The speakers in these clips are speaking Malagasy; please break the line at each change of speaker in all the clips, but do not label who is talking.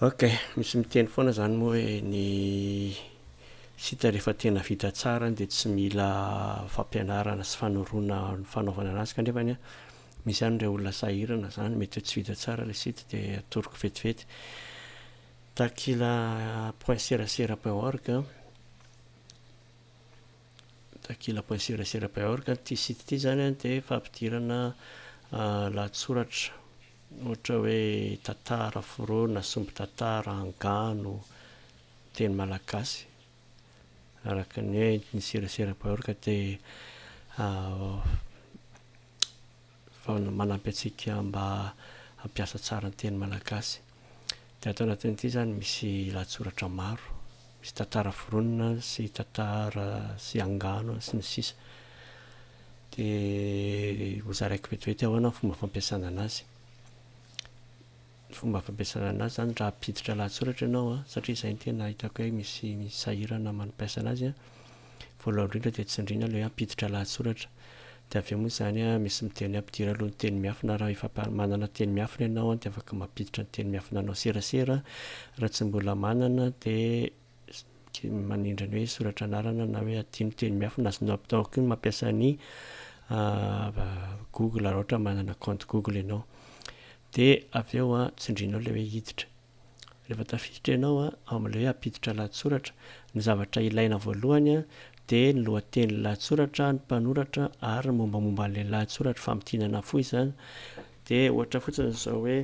Ok, misy miteny foana zany moa hoe ny site rehefa tena vita tsara dia tsy mila fampianarana sy fanoroana ny fanaovana anazy kanefany an misy any ireo olona sahirana zany mety hoe tsy vita tsara ilay site dia atoroko vetivety takila point serasera point org takila point serasera point org ity site ity zany dia fampidirana lahatsoratra Ohatra hoe tantara, foronina, sombin-tantara, angano, teny malagasy. Araka ny hoe ny serasera baorika dia manampy antsika mba hampiasa tsara ny teny malagasy. Dia ato anatin'ity izany misy lahatsoratra maro. Misy tantara foronina sy tantara sy angano sy ny sisa dia ho zaraiko vetivety ahoana ny fomba fampiasana anazy. Ny fomba fampiasana anazy izany raha hampiditra lahatsoratra ianao an, satria izay no tena hitako hoe misy misy sahirana amin'ny mampiasa anazy an, voalohany indrindra dia tsindriana ilay hoe hampiditra lahatsoratra, De avy eo moa zany a misy miteny ampidiro aloha ny teny miafina raha efa par manana teny miafina ianao de afaka mampiditra ny teny miafina anao serasera raha tsy mbola manana de mi- manindry ny hoe soratra anarana na hoe adio ny teny miafina azonao avy tao koa ny mampiasa ny google raha ohatra manana compte google ianao de avy eo a tsindrinao le hoe hiditra Rehefa tafiditra ianao ao amin'ilay hoe ampiditra lahatsoratra, ny zavatra ilaina voalohany dia ny lohatenin'ny lahatsoratra, ny mpanoratra ary ny mombamomba an'ilay lahatsoratra, famintinana fohy izany. Dia ohatra fotsiny izao hoe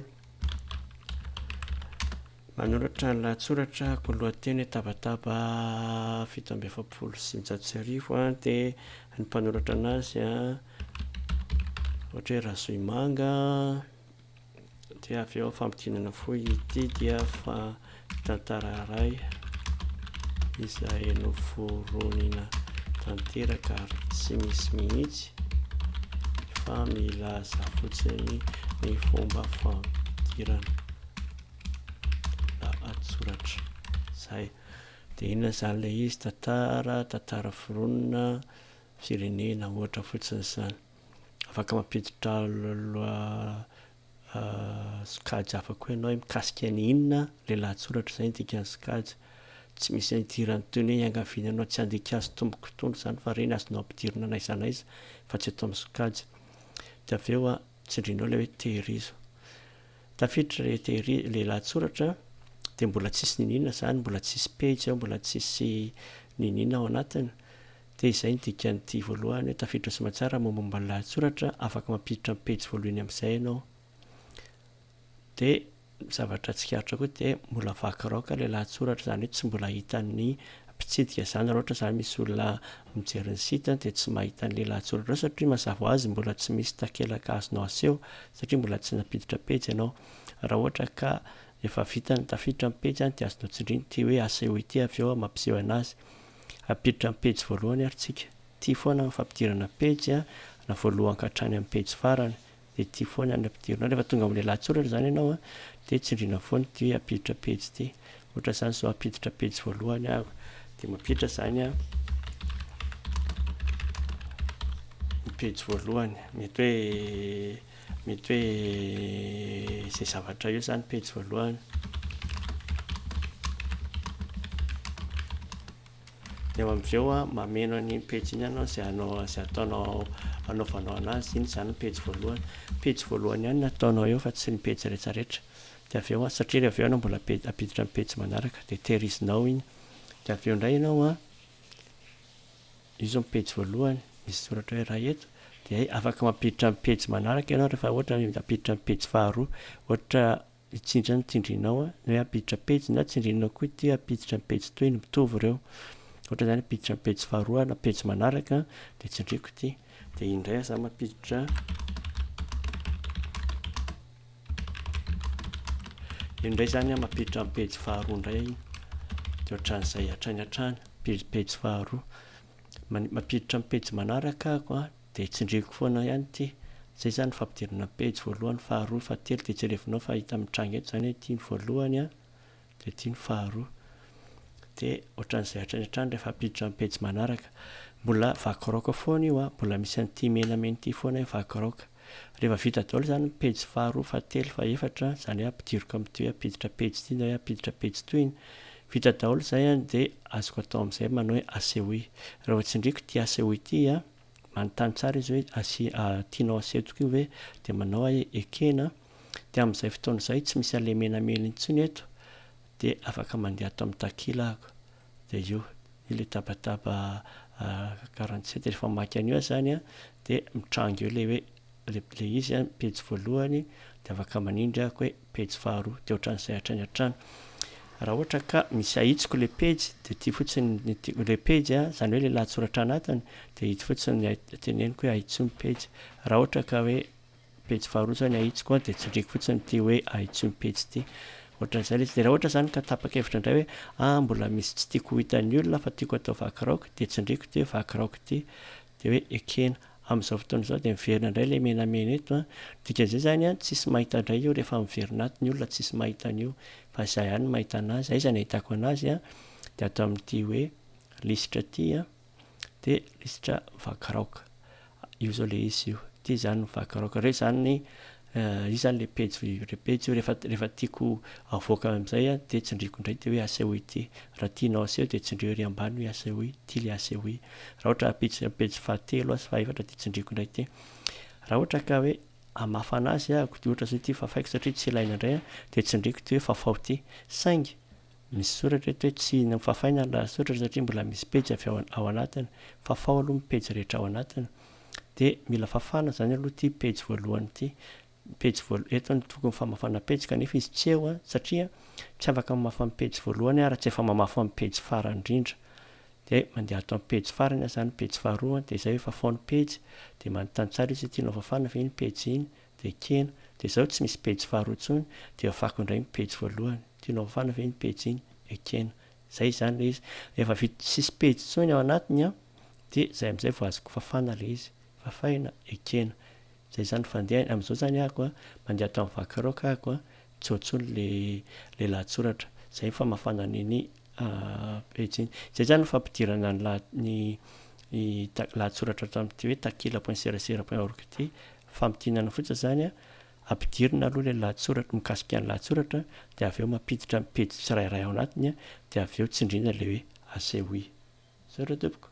manoratra ny lahatsoratra ko lohateny tabataba fito amby efapolo sy njato sy arivo a dia ny mpanoratra anazy a ohatra hoe Razohimanga Dia avy eo fampidinana fohy ity dia fa tantara iray izay noforonina tanteraka ary tsy misy mihitsy fa milaza fotsiny ny fomba fampidirana lahatsoratra zay de inona zany le izy tantara tantara foronina firenena ohatra fotsiny zany afaka mampiditra sokajy hafa koa ianao hoe mikasika ny inona ilay lahatsoratra izay ny dikan'ny sokajy. Tsy misy ny idiran'ny toy ny hoe iangaviana anao tsy handika azy tompoko itony izany fa ireny azonao ampidirina na aiza na aiza fa tsy eto amin'ny sokajy. Dia avy eo tsindrinao ilay hoe tehirizo. Tafiditra ilay tehiri- ilay lahatsoratra dia mbola tsisy niniana izany, mbola tsisy pejy ao, mbola tsisy niniana ao anatiny. Dia izay ny dikan'ity voalohany hoe tafiditra soa aman-tsara mombamomba ny lahatsoratra, afaka mampiditra ny pejy voalohany amin'izay ianao. Dia ny zavatra tsikaritra koa dia mbola vaky raoka ilay lahatsoratra, izany hoe tsy mbola hitan'ny mpitsidika izany, raha ohatra izany misy olona mijery ny site dia tsy mahita an'ilay lahatsoratra eo satria mazava ho azy mbola tsy misy takelaka azonao aseho satria mbola tsy nampiditra pejy ianao. Raha ohatra ka efa vita ny tafiditra ny pejy dia azonao tsindrina ity hoe asehoy ity avy eo mampiseho anazy. Ampiditra amin'ny pejy voalohany ary tsika. Tia foana ny fampidirana pejy a, na voalohany ka hatrany amin'ny pejy farany dia tia foana ny ampidirina. Rehefa tonga amin'ny lahatsoratra izany ianao a, dia tsindriana foana ity hoe ampiditra pejy ity. Ohatra izany izao ampiditra pejy voalohany aho, dia mampiditra izany aho ny pejy voalohany. Mety hoe Mety hoe izay zavatra eo izany pejy voalohany. Dia eo amin'izay eo mameno an'iny pejy iny ianao izay hanao izay ataonao anaovanao anazy iny izany ny pejy voalohany. Pejy voalohany ihany no ataonao eo fa tsy ny pejy rehetra rehetra. Dia avy eo satria avy eo ianao mbola hampiditra ny pejy manaraka dia tehirizinao iny. Dia avy eo indray ianao Izy io ny pejy voalohany, misy soratra hoe Ray eto, dia afaka mampiditra ny pejy manaraka ianao rehefa ohatra hoe hampiditra ny pejy faharoa. Ohatra hitsindry ny tsindrinao ny hoe hampiditra pejy na tsindrinao koa ity hoe hampiditra ny pejy toy ny mitovy ireo. Ohatra izany hampiditra ny pejy faharoa na pejy manaraka dia tsindriako ity. Dia indray aho izany mampiditra. Io indray izany mampiditra amin'ny pejy faharoa indray dia ohatran'izay hatrany hatrany, pejy faharoa. Mampiditra amin'ny pejy manaraka aho dia tsindriako foana ihany ity. Izay izany ny fampidirana pejy voalohany, faharoa, fahatelo dia jerevinao fa hita mitranga eto izany hoe ity ny voalohany an, Dia ity ny faharoa. Dia ohatran'izay hatrany hatrany rehefa hampiditra ny pejy manaraka. Mbola vaky raoka foana io an, mbola misy an'ity menamena ity foana hoe vaky raoka. Rehefa vita daholo izany ny pejy faharoa, fahatelo, fahefatra, izany hoe ampidiriko amin'ity hoe hampiditra pejy ity na hoe hampiditra pejy tohiny. Vita daholo izay an, dia azoko atao amin'izay manao hoe asehoy. Raha vao tsindriako ity asehoy ity an, manontany tsara izy hoe asi, tianao asetoko io ve? Dia manao aho hoe ekena an. Dia amin'izay fotoana izay tsy misy alemenamena intsony eto dia afaka mandeha ato amin'ny takila aho. Dia io, io ilay tabataba quarante sept. Rehefa mamaky an'io aho izany an, dia mitranga eo ilay hoe, ilay, ilay izy an, pejy voalohany, dia afaka manindry aho hoe pejy faharoa. Dia ohatran'izay hatrany hatrany. Raha ohatra ka misy ahitsiko ilay pejy, dia ity fotsiny ny ti-, ilay pejy an, izany hoe ilay lahatsoratra anatiny, dia ito fotsiny ny teneniko hoe ahitsio ny pejy. Raha ohatra ka hoe. pejy faharoa zany ahitsiko a de tsindriako fotsiny ity hoe ahitsio ny pejy ity ohatran'izay le izy de raha ohatra zany ka tapa-kevitra indray hoe ah mbola misy tsy tiako ho hitan'ny olona fa tiako atao vaky raoka de tsindriako ity hoe vaky raoka ity de hoe ekena amin'izao fotoana izao de miverina indray le menamena eto a dikan'izay zany a tsisy mahita indray io rehefa miverina ato ny olona tsisy mahita an'io fa zah ihany no mahita anazy aiza no ahitako anazy a de ato amin'ity hoe lisitra ity a dia lisitra vaky raoka. Io izao ilay izy io. Ity izany ny vaky raoka. Ireo izany ny, io izany ilay pejy, ilay pejy io rehefa, rehefa tiako havoaka amin'izay an, dia tsindriako indray dia hoe aseho ity. Raha tianao aseho dia tsindrio ery ambany hoe aseho ity. Ity ilay aseho ity. Raha ohatra ampiditry ny pejy fahatelo aho sy fahaefatra dia tsindriako indray ity. Raha ohatra ka hoe hamafana azy ahako dia ohatra izao ity fafaiko satria tsy ilaina indray an, dia tsindriako ity hoe fafao ity. Saingy, Misy soratra eto hoe tsy nofafaina ny lahatsoratra satria mbola misy pejy avy ao ao anatiny. Fafao aloha ny pejy rehetra ao anatiny. Dia mila fafana izany aloha ity pejy voalohany ity. Ny pejy voalohany, eto ny tokony famafana pejy kanefa izy tsy eo satria tsy afaka mamafa ny pejy voalohany aho raha tsy efa mamafa amin'ny pejy farany indrindra. Dia mandeha ato amin'ny pejy farany aho izany, pejy faharoa, dia izay hoe fafao ny pejy. Dia manontany tsara izy hoe tianao fafana ve iny pejy iny. Dia ekena, dia izao tsy misy pejy faharoa intsony, dia afako indray ny pejy voalohany. Tianao hofana ve iny pejy iny? Ekena. Izay izany ilay izy. Rehefa vita tsy misy pejy intsony ao anatiny an, dia izay amin'izay vao azoko fafana ilay izy. Fafàina? Ekena. Izay izany ny fandehany. Amin'izao izany ahako an, mandeha ato amin'ny vakiraoka ahako an, tsy ao intsony ilay lahatsoratra. Izay ny famafàna an'iny pejy iny. Izay izany ny fampidirana ny lahatsoratra ato amin'ity hoe takila point serasera point org ity Famintinana fotsiny izany an, ampidirina aloha ilay lahatsoratra mikasika ny lahatsoratra dia avy eo mampiditra ny pejy tsirairay ao anatiny dia avy eo tsindriana ilay hoe asehoy. Zay ry tompoko.